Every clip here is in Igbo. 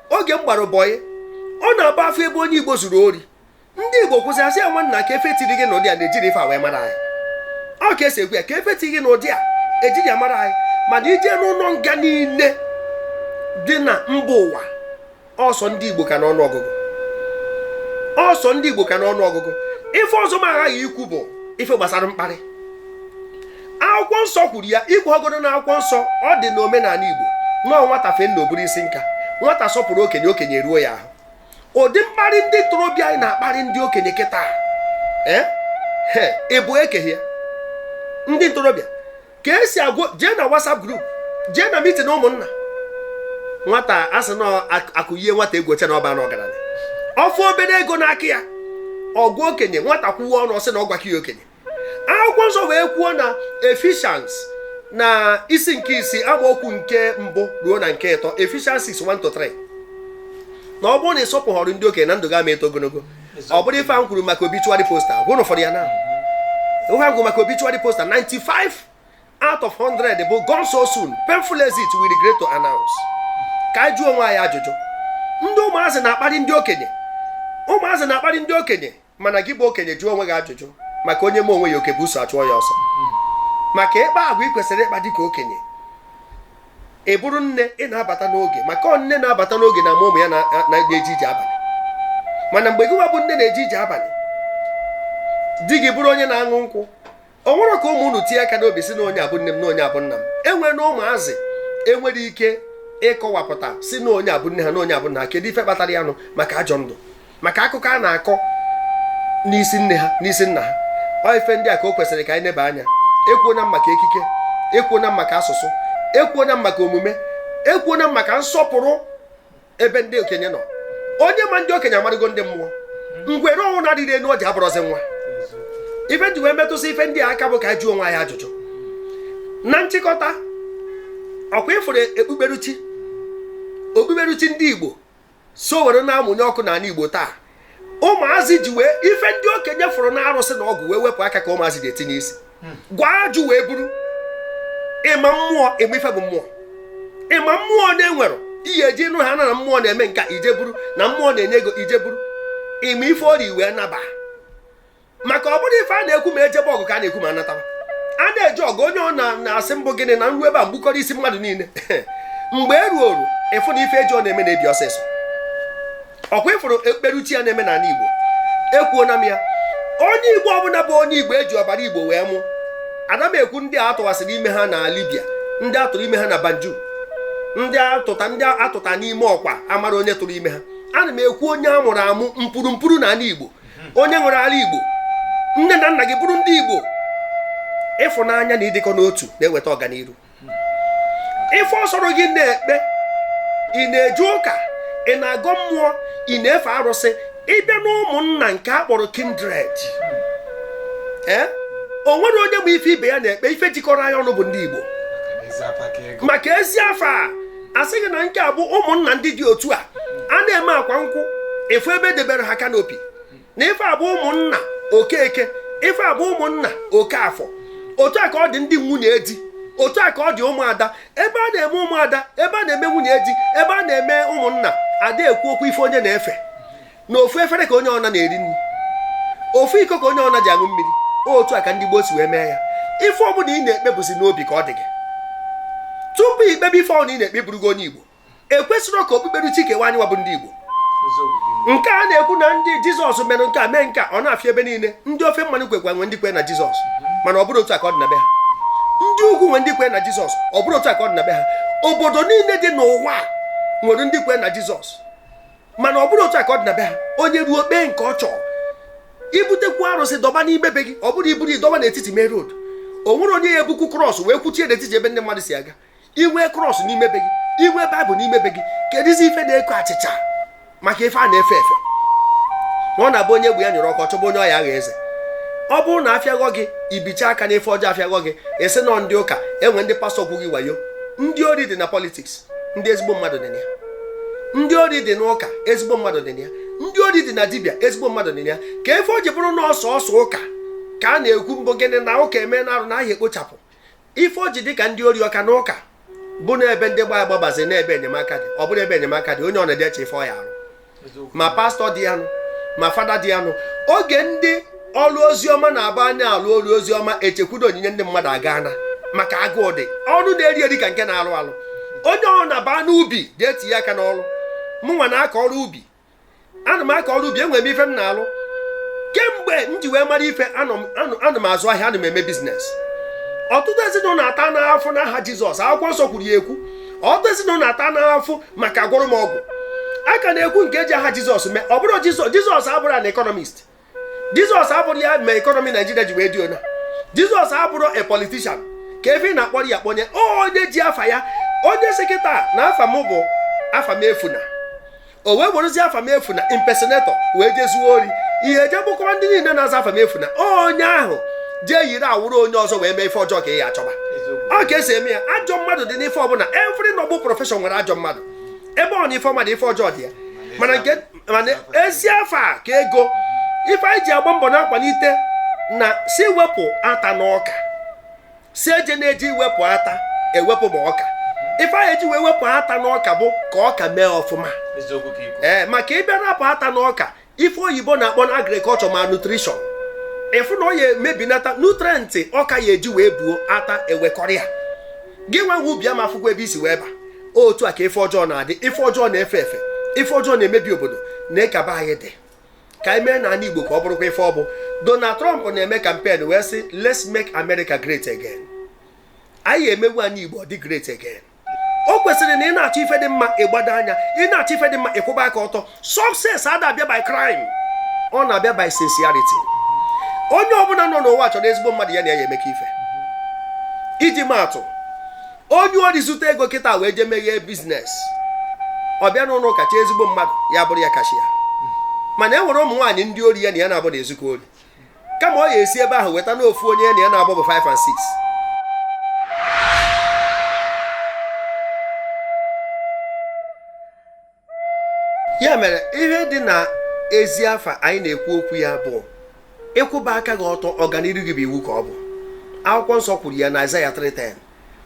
oge m gbara bọyị ọ na-abụ a fụ ebe onye igbo zuru ori ndị igbo kwụsị asị ya nwanna kee ife tiri gị n'ụdị a na ejirọ ife a wee mara anyị ọ ka esi ekwu ya kee ife tiri gị n'ụdị a ejirọ ya mara anyị mana i jee n'ụnọ nga niile dị na mba ụwa ọ sọ ndị igbo ka n'ọnụ ọgụgụ ọ sọ ndị igbo ka n'ọnụ ọgụgụ ife ọzọ m aghaghị ikwu bụ ife gbasara mkparị akwụkwọ nsọ kwuru ya ị pụọgodu na akwụkwọ nsọ ọ dị na omenanị igbo nọọ nwata fee nna o buru isi nka nwata sọpụrụ okenye okenye ruo ya ahụ ụdị mkparị ndị ntorobịa anyị na-akparị ndị okenye kịta eh? ịbụ ekeghị ya ndị ntorobịa ka esi agwa jee na WhatsApp group jee na meeting ụmụnna nwata asị na akụyie nwata egwu o chee na ọ bana ọgaranya ọ fụ obere ego n'aka ya ọ gwa okenye nwata kwuwe ọnụ ọ sị na ọ gwaka ya okenye akwụkwọ nsọ wee kwuo na Ephesians na isi nke isii amaokwu nke mbụ ruo na nke ịtọ Ephesians 6 1 to 3 na ọ bụrụ na ị sọpụghọrọ ndị okenye na ndụ gị ama eto ogologo ọ bụrụ ife a m kwuru maka obituary poster gwụrụ ụfọdụ ya na ihe a m kwuru maka obituary poster 95 out of 100 bụ gone so soon painful exit we regret to announce ka anyị jụọ onwe anyị ajụjụ ndị ụmụazị na-akparị ndị okenye ụmụazị na-akparị ndị okenye mana gị bụ okenye jụọ onwe gị ajụjụ maka onye mee onwe ya oke busu achụọ ya ọsọ maka ịkpa agwa ị kwesịrị ịkpa dịka okenye ị bụrụ nne ị na-abata n'oge maka ọ nne na-abata n'oge na-ama ụmụ ya na-eje ije abalị mana mgbe gị nwa bụ nne na-eje ije abalị di gị bụrụ onye na-aṅụ nkwụ o nwerọ ka ụmụ unu tinye aka n'obi sị na onye a bụ nne m na onye a bụ nna m enwena ụmụazị enwerọ ike ịkọwapụta sị na onye a bụ nne ha na onye a bụ nna ha kedu ife kpatara ya nụ maka ajọ ndụ maka akụkọ a na-akọ n'isi nne ha n'isi nna ha ọ ife ndị a ka o kwesịrị ka anyị neba anya ekwuona m maka ekike ekwuona m maka asụsụ ekwuona m maka omume ekwuona m maka nsọpụrụ ebe ndị okenye nọ onye ma ndị okenye amarugo ndị mmụọ ngwere ọnwụ na-arịrọ enu ọjị abụrọzi nwa ife m ji wee metụsị ife ndị a aka bụ ka anyị jụọ onwe anyị ajụjụ na nchịkọta ọ kwa ị fụrụ ekpukperechi okpukperechi ndị igbo so were na-amụnye ọkụ n'anị igbo taa ụmụazị ji wee ife ndị okenye fụrụ na arụsị na ọgwụ wee wepụ aka ka ụmụazị je-etinye isi hmm. gwọọ ajụ wee buru ị ma mmụọ ị ma ife bụ mmụọ ị ma mmụọ na enwerọ ihe eji nụ ha na na mmụọ na-eme nka i jee buru na mmụọ na-enye ego i jee buru ị ma ife o rie wee naba maka ọ bụrọ ife a na-ekwu ma ejebe ọgụ ka a na-ekwu ma anatawa a na-eje ọgụ onye ọna asị mbụ gịnị na m ruo ebe a m gbukọrọ isi mmadụ niile mgbe e ruo oru ị fụ na ife eji ọnụ eme na-ebi ọsịsọ ọkwa ị fụrụ ekperuchi ya na-eme n'ala igbo ekwuona m ya onye igbo ọbụla bụ onye igbo eji ọbara igbo wee mụ ada m ekwu ndị a tụwasịrị ime ha na libya ndị atụrụ ime ha na banjul ndị atụta n'ime ọkwa amarọ onye tụrụ ime ha ana m ekwu onye a mụrụ amụ mpuru mpuru na ala igbo onye nwere ala igbo nne na nna gị bụrụ ndị igbo ịfụnanya na ịdịkọ n'otu na-eweta ọganiru ife ọ sọrọ gị na-ekpe ị na-eje ụka ị na-agọ mmụọ ị na-efe arụsị ị bịa na ụmụnna nke a kpọrọ kindred ee eh? o nwerọ onye ma ife ibe ya na-ekpe ife jikọrọ anyị ọnụ bụ ndị igbo maka ezi afọ a a sị gị na nke a bụ ụmụnna ndị dị otu a a na-eme akwa nkwụ ị fụ ebe edebere ha kanopi na ife a bụ ụmụnna okeke ife a bụ ụmụnna okafọ otu a ka ọ dị ndị nwunye di otu a ka ọ dị ụmụada ebe a na-eme ụmụada ebe a na-eme nwunye di ebe a na-eme ụmụnna ada ekwu okwu ife onye na-efe na ofu efere ka onye ọna na-eri nri ofu iko ka onye ọna ji aṅụ mmiri otu a ka ndị gboo si wee mee ya ife ọbụla ị na-ekpe bụzi n'obi ka ọ dị gị tupu ikpebe ife ọbụla ị na-ekpe bụrụgo onye igbo ekwesịrọ ka okpukpere chi kewa anyịwa bụ ndị igbo nke a na-ekwu na ndị jizọs mere nke a mee nke ọ na-afịa ebe niile ndị ofe mmanụ kwekwa nwe ndị kwe na jizọs mana ọ bụrọ otu a ka ọ dị na be ha ndị ugwu nwe ndị kwe na jizọs ọ bụrọ otu a ka ọ dị na be ha obodo niile dị n'ụwa nwere ndị kwe na jizọs mana ọ bụrọ otu a ka ọ dị na be ha onye ruo kpee nke ọ chọrọ ibutekwu arụsị dọba n'ime be gị ọ bụrọ iburu idọba n'etiti main road o nwerọ onye ya ebukwu krọs wee kwuchie n'etiti ebe ndị mmadụ si aga inwe krọs n'ime be gị inwe baịbụl n'ime be gị kedụzi ife na-eko achịcha maka ife a na-efe efe na ọ na-abụ onye egwu ya nyere ọkọ chọba onye ọ ya agha eze ọ bụrụ na afịaghọ gị ibicha aka n'ife ọjọọ afịaghọ gị esi nọ ndị ụka enwe ndị pastọ gwụ gị wayo ndị ori dị na politiks ndị ezigbo mmadụ dị na ya ndị ori dị n'ụka ezigbo mmadụ dị na ya ndị ori dị na dibịa ezigbo mmadụ dị na ya ka ife o ji bụrụ na ọ sọsọ ụka ka a na-ekwu mbụ gịnị na ụka emena arụ na a ya ekpochapụ ife o ji dị ka ndị ori ọ ka na ụka bụ na ebe ndị gbaa agbabazi na ebe enyemaka dị ọ bụrụ ebe enyemaka dị onye ọna edeche ife ọ ya arụ ma pastọ dị ya nụ ma fada dị ya nụ oge ndị ọrụ ozi ọma na-abanye alụ ọrụ ozi ọma echekwudo onyinye ndị mmadụ agana maka agụụ dị ọnụ na-eri eri ka nke na-alụ alụ onye ọbụna baa n'ubi ga-etinye aka n'ọrụ mụnwa na-akọ ọrụ ubi ana m akọ ọrụ ubi enwere m ife m na-alụ kemgbe m ji wee mara ife anọ m- anọ- ana m azụ ahịa ana m eme biznes ọtụtụ ezinụlọ atana afụfụ n'aha jizọs akwụkwọ nsọ kwuru ya ekwu ọtụtụ ezinụlọ atana afụfụ maka agwọrọ m ọgwụ a ka na-ekwu nke eji aha jizọs mee ọ bụrọ jizọs jizọs abụrọ an economist jizọs abụrọ ya mee ekọnọmi naijiria ji wee dị ona jizọs abụrọ a politician ka ebe ị na-akpọrọ ya kpọnye onye ji afa ya onye sị kịta na afa m bụ afamefuna o wee werụzie afamefuna impersonator wee jezuo ori ị ya eje gbukọwa ndị niile na-aza afamefuna onye ahụ jee yiri awọrọ onye ọzọ wee mee ife ọjọọ ka ị ya achọba ọ ka e si eme ya ajọ mmadụ dị n'ife ọbụla every noble profession nwere ajọ mmadụ ebe ọbụna ife ọma dị ife ọjọọ dị ya mana nke mana ezi afa ka ego ife anyị ji agba mbọ na-akwalite na sị wepụ ata na ọka sị eje na-eji iwepụ ata ewepụ ma ọka ife a ya eji wee wepụ ata na ọka bụ ka ọka mee ọfụma ee maka ị bịa rapụ ata na ọka ife oyibo na-akpọ na agriculture malnutrition ị fụ na ọ ya emebinata nutrient ọka ya eji wee buo ata ewekọrịa gị nwa nwe ubi ama afụkwa ebe i si wee ba otu a ka ife ọjọọ na-adị ife ọjọọ na-efe efe ife ọjọọ na-emebi obodo na-ekaba anyị dị ka anyị mee n'ala Igbo ka ọ bụrụkwa ife ọ bụ Donald Trump na-eme campaign wee sị let's make America great again a ya emenwu ana Igbo ọ dị great again o kwesịrị na ị na-achọ ife dị mma ị gbado anya ị na-achọ ife dị mma ị kwụba aka ọtọ success ada abịa by crime ọ na-abịa by sincerity onye ọbụla nọ n'ụwa chọrọ ezigbo mmadụ ya na ya emekọ ife iji maa atụ onye ori zuta ego kịta wee jee meghee business ọ bịa n'ụlọ ụka chọọ ezigbo mmadụ ya bụrụ ya cashier mana e nwere ụmụ nwaanyị ndị ori ya na ya na-abụ na-ezukọ ori kama ọ ya esi ebe ahụ weta n'ofu onye ya na ya na-abụbu 5 and 6 ya mere ihe dị na ezi afa anyị na-ekwu okwu ya bụ ịkwụba aka gị ọtọ ọganiru gị bụ iwu ka ọ bụ akwụkwọ nsọ kwuru ya na Aịzaya 3:10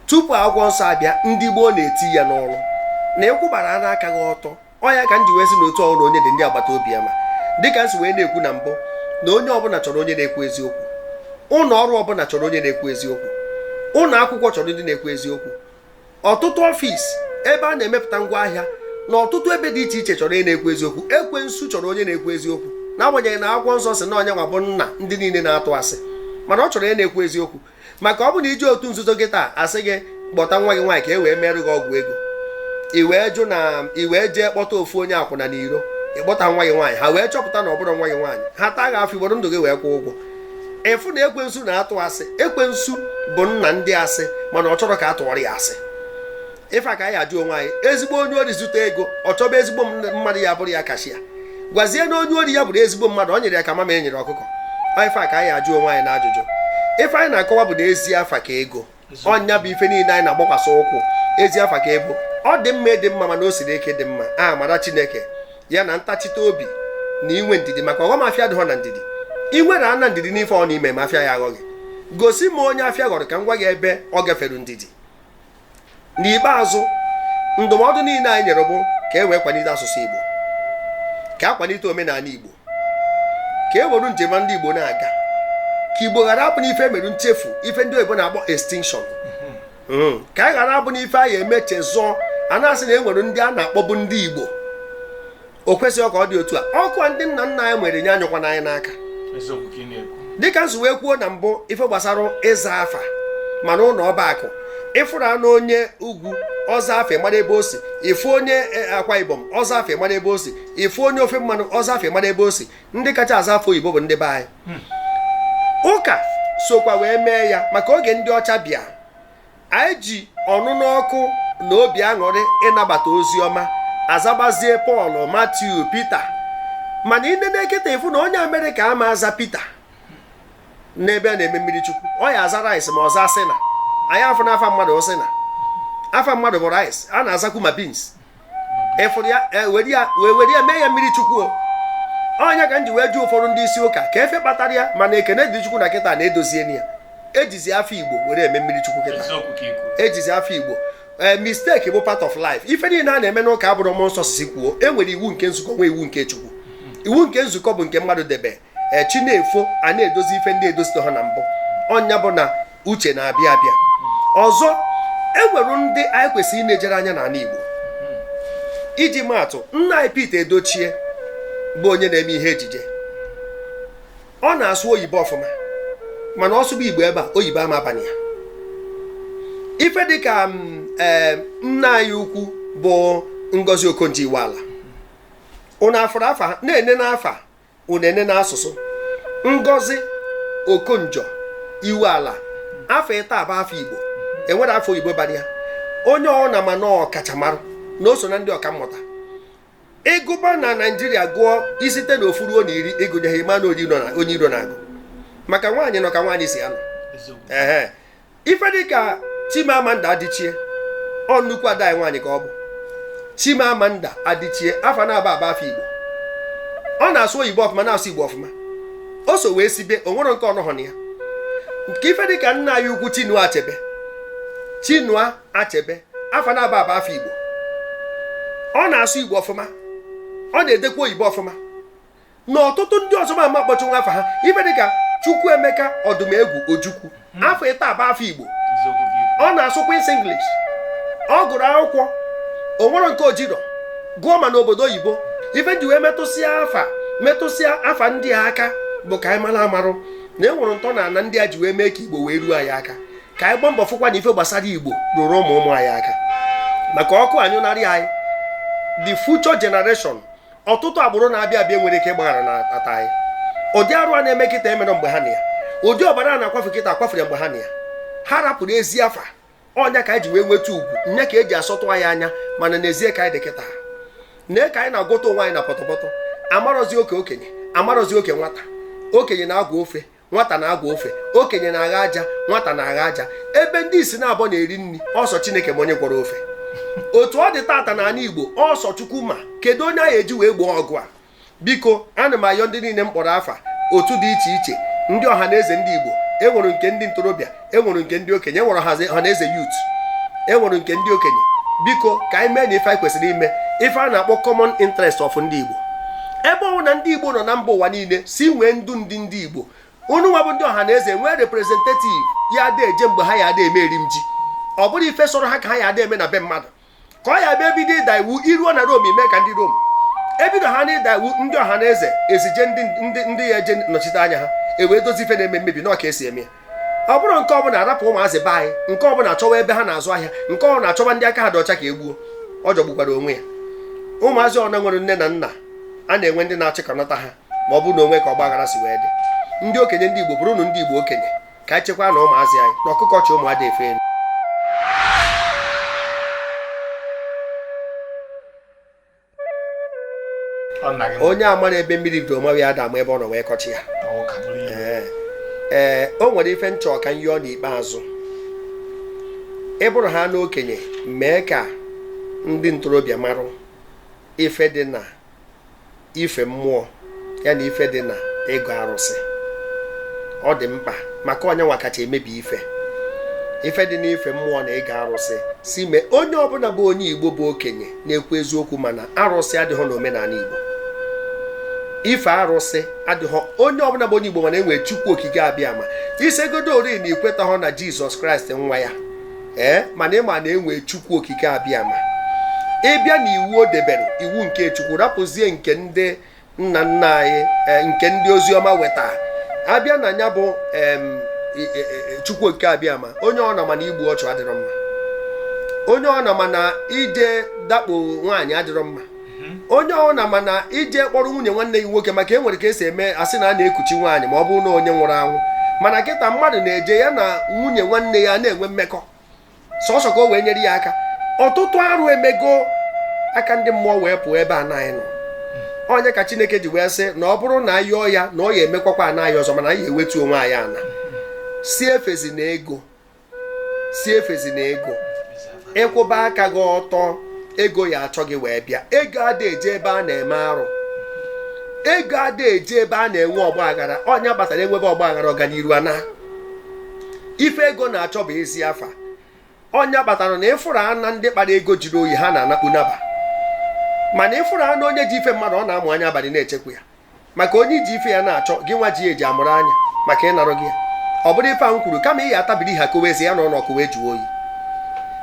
tupu akwụkwọ nsọ abịa ndị gboo na-eti ya n'ọrụ na ịkwụbara ara aka gị ọtọ ọ ya ka m ji wee sị na otu ọrụ onye dị ndị agbata obi ya ma dịka m si wee na-ekwu na mbụ na onye ọbụla chọrọ onye na-ekwu eziokwu ụlọ ọrụ ọbụla chọrọ onye na-ekwu eziokwu ụlọ akwụkwọ chọrọ ndị na-ekwu eziokwu ọtụtụ office ebe a na-emepụta ngwa ahịa na ọtụtụ ebe dị iche iche chọrọ onye na-ekwu eziokwu ekwensu chọrọ onye na-ekwu eziokwu n'agbanyeghị na akwụkwọ nsọ sị na ya nwa bụ nna ndị niile na-atụ asị mana ọ chọrọ onye na-ekwu eziokwu maka ọ bụ na i je otu nzuzo kịta a sị gị kpọta nwa gị nwaanyị ka e wee merụ gị ọgwụ ego i wee jụ na i wee jee kpọta ofu onye akwụna n'iro ịkpọta nwa gị nwaanyị ha wee chọpụta na ọ bụrọ nwa gị nwaanyị ha taa gị afụfụ i buru ndụ gị wee kwụọ ụgwọ ị fụ na ekwensu na-atụ asị ekwensu bụ nna ndị asị mana ọ chọrọ ka a tụọrọ ya asị ife a ka anyị ya ajụ onwe anyị ezigbo onye ori zuta ego ọ chọba ezigbo mmadụ ya bụrụ ya cashier gwazienụ onye ori ya bụrụ ezigbo mmadụ ọ nyịrị ya ka mamịrị nyịrị ọkụkọ ife a ka anyị ya ajụ onwe anyị na ajụjụ ife anyị na-akọwa bụ na ezi afa ka ego ọ nya bụ ife niile anyị na-agbakwasị ụkwụ ezi afa ka ego ọ dị mma ịdị mma mana o siri ike ịdị mma amara chineke ya na ntachite obi na inwe ndidi maka ọghọm afịa dịghọ na ndidi i nwere ana ndidi n'ife ọ na ime ma afịa ya aghọghị gosi m onye afịa ghọrọ ka m gwa gị ebe ọ gafere ndidi n'ikpeazụ ndụmọdụ niile anyị nyere bụ ka e wee kwalite asụsụ Igbo ka a kwalite omenala Igbo ka e were njem ndị Igbo na-aga ka Igbo ghara abụ n'ife mere nchefu ife ndị oyibo na-akpọ extinction hmm. ka anyị ghara abụ n'ife anyị eme chezọọ a na-asị na e nwere ndị a na-akpọbụ ndị Igbo o kwesịghị ka ọ dị otu a ọkụ ndị nna nna anyị nwere nye anyụkwana anyị n'aka dịka m si wee kwuo na mbụ ife gbasara ịza afa ma n'ụlọ ọba akụ ị fụrụnụ onye ugwu ọ zaa afa a mara ebe o si ị fụ onye e, akwa ibom ọ zaa afa a mara ebe o si ị fụ onye ofe mmanụ ọ zaa afa ị mara ebe o si ndị kacha aza afa oyibo bụ ndị be anyị hmm. ụka sokwa wee mee ya maka oge ndị ọcha bịa anyị ji ọnụnụ ọkụ na obi aṅụrị nabata ozi ọma azabazie pọl matiu pita mana i nenekata ị fụ na onye amerịka ama aza pita n'ebe a na-eme mmiri chukwu ọ ya aza rice ma ọ zaa a sị na anyị afụ na afa mmadụ ọ sị na afa mmadụ bụ rice a na-azakwu ma beans ị fụrụ ya e, were ya wee were ya mee ya mmiri chukwu ọ nya ka m ji wee jụ ụfọdụ ndị isi ụka kee ife kpatara ya mana ekene dị chukwu na kịta na e doziena ya e jizi afa igbo were eme mmiri chukwu kịta e jizi afa igbo ee eh, mistake bụ part of life ife niile a na-eme n'ụka abụrọ mmụọ nsọ si kwuo e nwere iwu nke nzukọ nwee iwu nke chukwu iwu nke nzukọ bụ nke mmadụ debe chi na-efo a na-edozi ife ndị e dozitehọ na mbụ ọ nya bụ na uche na-abịa abịa ọzọ enwere ndị anyị kwesịrị inejere anya n'ala Igbo iji maatụ nna anyị Pete Edochie bụ onye na-eme ihe ejije ọ na-asụ oyibo ọfụma mana ọ sụba Igbo ebe a oyibo ama abanye ya ife dịka mm, eh, nne anyị ukwu bụ Ngozi Okonjo-Iweala ụnụ afụrụ afa na-ene n'afa unu ene na asụsụ ngozi okonjo-iweala afa ịtọ a bụ afa igbo enwerọ afa oyibo bara ya onye ọbụna ma na ọ ọkachamara na o so na ndị ọkammụta ị gụba na naijiria gụọ i site na ofu ruo na iri ị gụnyeghị ma na ọ onye iro na-agụ maka nwaanyị nọ ka nwaanyị si anọ ehe ife dịka Chimamanda Adichie ọ nnukwu ada anyị nwaanyị ka ọ bụ Chimamanda Adichie afa naabọ a bụ afa Igbo ọ na-asụ oyibo ọfụma na-asụ Igbo ọfụma o so wee sibe o nwerọ nke ọ nọhọ na ya nke ife dịka nna anyị ukwu Chinua Achebe Chinua Achebe afa naabọ a bụ afa Igbo ọ na-asụ Igbo ọfụma ọ na-edekwa oyibo ọfụma na ọtụtụ ndị ọzọ m ma akpọchanwu afa ha ibe dịka Chukwuemeka Ọdụmegwu Ojukwu hmm. afọ ịta abụ afọ Igbo ọ na-asụkwasị English ọ gụrụ akwụkwọ o nwere nke o jero gụọ ma n'obodo oyibo ife m ji wee metụsịa afa metụsịa afa ndị a aka bụ ka anyị mara amarụ na e nwere ntọ na ana ndị a ji wee mee ka Igbo wee ruo anyị aka ka anyị gbaa mbọ fụkwa na ife gbasara Igbo ruru ụmụ ụmụ anyị aka maka ọkụ anyụnarị anyị the future generation ọtụtụ agbụrụ na-abịa abịa nwere ike ịgbaghara na ata anyị ụdị arụ a na-eme kịta emere mgbe ha na ya ụdị ọbara a na-akwafe kịta akwafere mgbe ha na ya ha rapụrụ ezi afa ọ nya ka anyị ji wee nweta ugwu nya ka eji asọtụ anyị anya mana n'ezie ka anyị dị kịta nee ka anyị na-agwọta onwe anyị na pọtọpọtọ amarozi oke okenye amarozi oke nwata okenye na-agwọ ofe nwata na-agwọ ofe okenye na-agha aja nwata na-agha aja ebe ndị ìsì naabọ na-eri nni ọ sọ chineke ma onye gwọrọ ofe otu ọ dị tata na anị igbo ọ sọ chukwu ma kedu onye anyị eji wee gboo ọgụ a biko ana m ayọ ndị niile m kpọrọ afa otu dị iche iche ndị ọha na eze ndị igbo enwere nke ndị ntorobịa enwere nke ndị okenye enwere ọha na eze youth enwere nke ndị okenye biko ka anyị mee na ife anyị kwesịrị ime ife a na-akpọ common interest of ndị igbo ebe ọwụna ndị igbo nọ na mba ụwa niile si nwee ndu ndị ndị igbo unu nwa bụ ndị ọha na eze nwee representative ya ada eje mgbe ha ya ada eme eri m ji ọ bụrụ ife sọrọ ha ka ha ya ada eme na be mmadụ ka ọ ya bịa ebido ịda iwu i ruo na Rome i mee ka ndị Rome ebido ha na ịda iwu ndị ọha na eze ezije ndị ya eje nọchite anya ha ewee dozi ife na-eme mmebi na ọ ka esi eme ọ bụrụ nke ọbụna arapụ ụmụazị be anyị nke ọbụna achọwa ebe ha na-azụ ahịa nke ọbụna achọwa ndị aka ha dị ọcha ka egbuo ọ jọgbukwara onwe ya ụmụazị ọna nwere nne na nna a na-enwe ndị na-achịkọnata ha ma ọ bụ na o nwe ka ọ gbaghara si wee dị ndị okenye ndị Igbo bụrụnụ ndị Igbo okenye ka anyị chekwanụ ụmụazị anyị na ọkụkọ chị ụmụ ada efe elu onye amaro ebe mmiri bido mawa ya ada ama ebe ọ nọ wee kọchịa ee o nwere ife m chọ ka m yọọ n'ikpeazụ ị bụrụ ha n'okenye mee ka ndị ntorobịa marụ ife dị na ife mmụọ ya na ife dị na ịgọ arụsị ọ dị mkpa maka ọ nya nwa kacha emebi ife ife dị n'ife mmụọ na ịgọ arụsị si mee onye ọbụna bụ onye igbo bụ okenye na-ekwu eziokwu ma na arụsị adịhọ n'omenanị igbo ife arụsị adịhọ onye ọbụna bụ onye igbo ma na enwere chukwu okike abịama isegodo ori na i kwetahọ na jizọs kraịst nwa ya ee mana ị ma na enwee chukwu okike abịama ị bịa na iwu o debere iwu nke chukwu rapụzie nke ndị nna nna anyị e, nke ndị ozi ọma weta abịa na nya bụ e, e, chukwu okike abịama onye ọna ma na igbu ọchụ adịrọ mma onye ọna ma na ije dakpo nwaanyị adịrọ mma onye ọ na mana ije kpọrọ nwunye nwanne gị nwoke maka e nwere ka esi eme asị na a na-ekuchi nwaanyị ma ọ bụrụ na onye nwụrụ anwụ mana kịta mmadụ na-eje ya na nwunye nwanne ya na-enwe mmekọ sọsọ ka o wee nyere ya aka ọtụtụ arụ emego aka ndị mmụọ wee pụọ ebe anyị nọ ọnya ka chineke ji wee sị na ọ bụrụ na ayọọ ya na ọ ya emekwakwa ana anyị ọzọ mana anyị ewetuo onwe anyị ana sị efezina ego sị efezina ego ịkwụba aka gị ọtọ ego ya achọ gị wee bịa ego ada eje ebe a na-eme arụ ego ada eje ebe a na-enwe ọgba aghara ọnya kpatara enwebe ọgba aghara ọganiru ana ife ego na-achọ bụ ezi afa ọnya kpatara na ịfụrụ ana ndị kpara ego jụrụ oyi ha na-anakpu naba mana ịfụrụ ana onye ji ife mmadụ ọ na-amụ anya abalị na-echekwa ya maka onye i ji ife ya na-achọ gị nwa ji eji amụrụ anya maka ịnarụ gị ya ọ bụrụ ife ahụ kwuru kama ị ya atabiri ha kowe ezi ya na ụlọ ọkụ wee jụọ oyi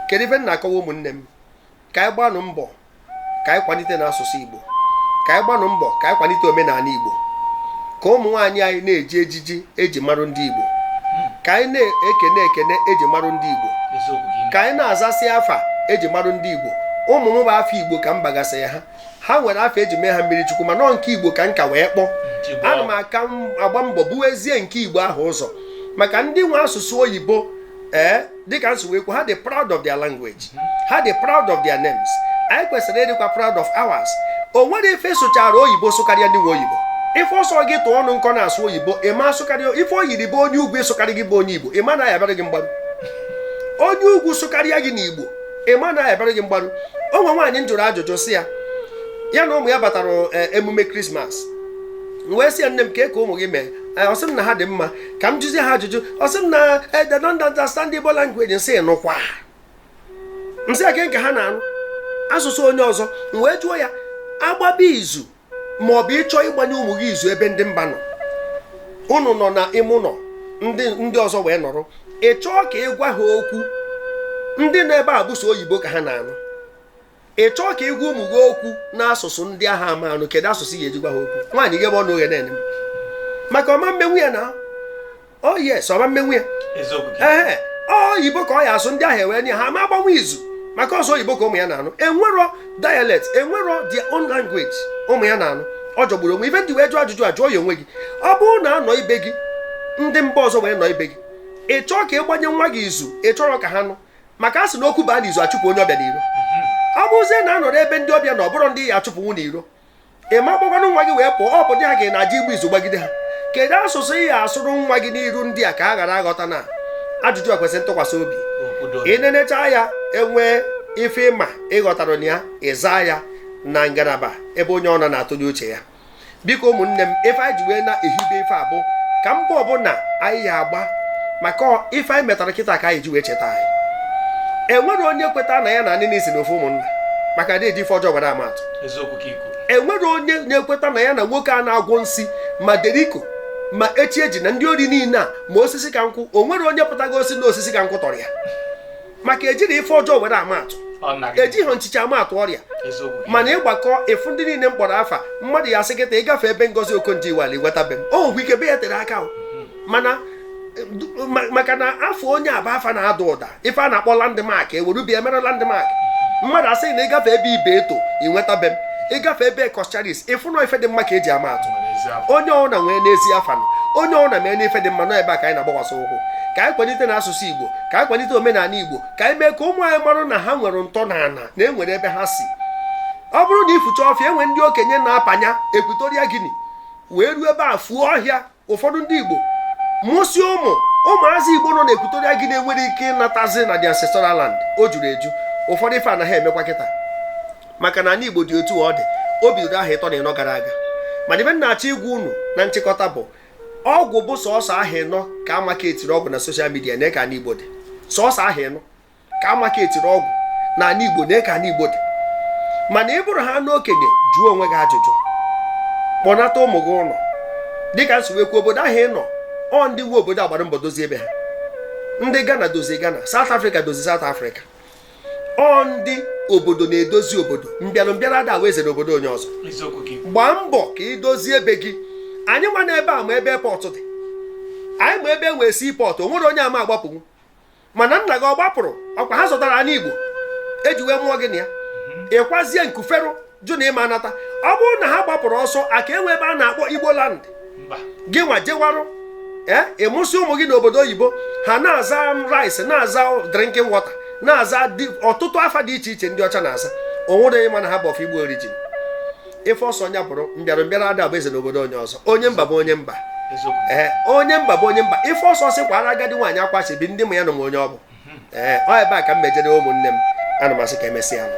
kedu ife m na-akọwa ụmụnne m ka anyị gbanụ mbọ ka anyị kwalite na asụsụ igbo ka anyị gbanụ mbọ ka anyị kwalite omenala igbo ka ụmụ nwaanyị anyị na-eji ejiji eji marụ ndị igbo ka anyị na-ekene ekene eji marụ ndị igbo ka anyị na-azasị afa eji marụ ndị igbo ụmụ m bụ afa igbo ka m bagasị ha ha nwere afa eji mee ha mmiri chukwu mana nke igbo ka m ka wee kpọọ ana m aka agba mbọ buwezie nke igbo ahụ ụzọ maka ndị nwe asụsụ oyibo ee eh, dịka m si wee kwu ha dị proud of their language ha dị proud of their names anyị kwesịrị ịdịkwa proud of ours o nwere ife sụchara oyibo sụkarịa ndị nwe oyibo ife ọ sọ gị tụọ ọnụ nkọ na-asụ oyibo ịma asụkarị ife o yiri bụ onye ugwu ịsụkarị gị bụ onye igbo ịma na ya abụrụ gị mgbarụ onye ugwu sụkarịa gị n'igbo ịma na ya abụrụ gị mgbarụ o nwe nwaanyị m jụrụ ajụjụ sị ya ya na ụmụ ya batara e, emume krismas m wee sị ya nne m kee ka ụmụ gị mee e, ọ sị m na ha dị mma ka m jụzie ha ajụjụ ọ sị m na e, they don't understand Igbo language m sị nụkwa m sị ya kee nke ha na-anụ asụsụ onye ọzọ m wee jụọ ya agbaba izu ma ọ bụ ịchọ ịgbanye ụmụ gị izu ebe ndị mba nọ unu nọ na ime ụlọ ndị ndị ọzọ wee nọrọ ị chọọ ka ị gwa ha okwu ndị nọ ebe a bụ sọ oyibo ka ha na-anụ ị chọọ ka ị gwa ụmụ gị okwu n'asụsụ ndị ahụ ama anụ kedu asụsụ ị ga-eji gwa ha okwu nwaanyị ghebe ọnụ oghe na-ene m maka ọ ma mmenwu ya na oh yes ọ ma mmenwu ya ee oyibo ka ọ ya asụ ndị ahụ ewee nụ ha ma agbanwu izu maka ọ sọ oyibo ka ụmụ ya na-anụ enwero dialect enwero their own language ụmụ ya na-anụ ọ jọgburu onwe ife m ji wee jụọ ajụjụ a jụọ ya onwe gị ọ bụrụ na anọ ibe gị ndị mba ọzọ wee nọ ibe gị ị chọọ ka ị gbanye nwa gị izu ị chọro ka ha nụ maka a sị na okwu baa n'izu achụpụ onye ọbịa n'iro ọ bụzie na anọrọ ebe ndị ọbịa na ọ bụrọ ndị ya achụpụnwu n'iro ị ma gbakwanụ nwa gị wee pụọ ọ bụ dị ha ga na aja ịgba izu gbagide ha kedu asụsụ ị ga-asụrụ nwa gị n'iru ndị a ka a ghara aghọta na ajụjụ ekwesị ntụkwasị obi ị nenecha ya enwee ife ị ma ị ghọtara na ya ị zaa ya na ngalaba ebe onye ọ nọ na-atụnye uche ya biko ụmụnne m ife anyị ji wee na-ehibe ife a bụ ka mbọ ọbụla anyị ya agba maka ife anyị metara kịta ka anyị ji wee cheta anyị enwere onye kweta na ya na anini si n'ofu ụmụnna maka na eji ife ọjọọ were ama atụ enwere onye na-ekweta na ya na nwoke a na-agwọ nsi ma deriko ma chiejina ndị ori niile a ma osisi ka nkwụ o nwere onye pụtago ọ sị na osisi ka nkwụ tọrọ ya maka ejiri ife ọjọọ were ama atụ ejighị nchiche ama atụ ọrịa mana ịgbakọ ịfụ ndị niile m kpọrọ afa mmadụ ya asị kịta ị gafee ebe ngozi okonjo iweala ị nweta be m o nwekwa ike be ya tere aka mhm. mana maka na afa onye a bụ afa na-ada ụda ife a na-akpọ landmark e were be ya e mere landmark mmadụ asị na ị gafee ebe ibeto ị nweta be m ị gafee ebe coscharis ị fụ na ife dị mma ka eji ama atụ onye ọna nwee n'ezi afa onye ọna mee n'ife dị mma nọ ebe a ka anyị na-agbakwasị ụkwụ ka anyị kwalite na asụsụ igbo ka anyị kwalite omenala igbo ka anyị mee ka ụmụ anyị marụ na ha nwere ntọ na ana na enwere ebe ha si ọ bụrụ na i fucha ọfịa enwe ndị okenye na panya equatorial guinea wee ruo ebe a fuo ọhịa ụfọdụ ndị Igbo mụsị ụmụ ụmụazị Igbo nọ na equatorial guinea enwere ike ịnatazi na the ancestral land o juru eju ụfọdụ ife anaghị emekwa kịta maka na ani Igbo dị otu ọ dị o bidoro ahọ ịtọ na ịnọ gara aga mana ife m na-achọ ịgwa unu na nchịkọta bụ ọgwụ bụ sọsọ ahọ ịnọ ka a marketiri ọgwụ na social media nee ka ani Igbo dị sọsọ ahọ ịnọ ka a marketiri ọgwụ na ani igbo nee ka ani igbo dị mana ị bụrụ ha n'okenye jụọ onwe gị ajụjụ kpọnata ụmụ gị ụlọ dịka m si wee kwuo obodo ahụ ị nọ ọ ndị nwe obodo gbara mbọ dozie ebe ha ndị Ghana dozie Ghana South Africa dozie South Africa ọ ndị obodo na-edozi obodo mbịara mbịara ada bụ eze n'obodo onye ọzọ gbaa mbọ ka ị dozie ebe gị anyị nwa na ebe a ma ebe airport dị anyị ma ebe e nwere seaport o nwere onye ama agbapụnwu mana nna gị ọ gbapụrụ ọkwa ha zọtara ani igbo eji wee mụọ gị na ya mhm. ị kwazie nkuferụ jụ na ị ma anata ọ bụrụ na ha gbapụrụ ọsọ aka enwe ebe a na-akpọ igbo land gị nwa jewarụ ee eh, ị mụsị ụmụ gị n'obodo oyibo ha na-aza rice na-aza drinking water na-aza ọtụtụ afa dị iche iche ndị ọcha na-aza o nwere onye ma na ha bụ of igbo origin ife ọ sọ onye bụrụ mbịara mbịara ada bụ eze n'obodo onye ọzọ onye mba bụ onye mba ee onye mba bụ onye mba ife ọ sọ sị kwara agadi nwaanyị akwachi bi ndị m ya nọ m onye ọ bụ mhm. ee ọ ebe a ka m mejere ụmụnne m ana m asị ka emesịa nụ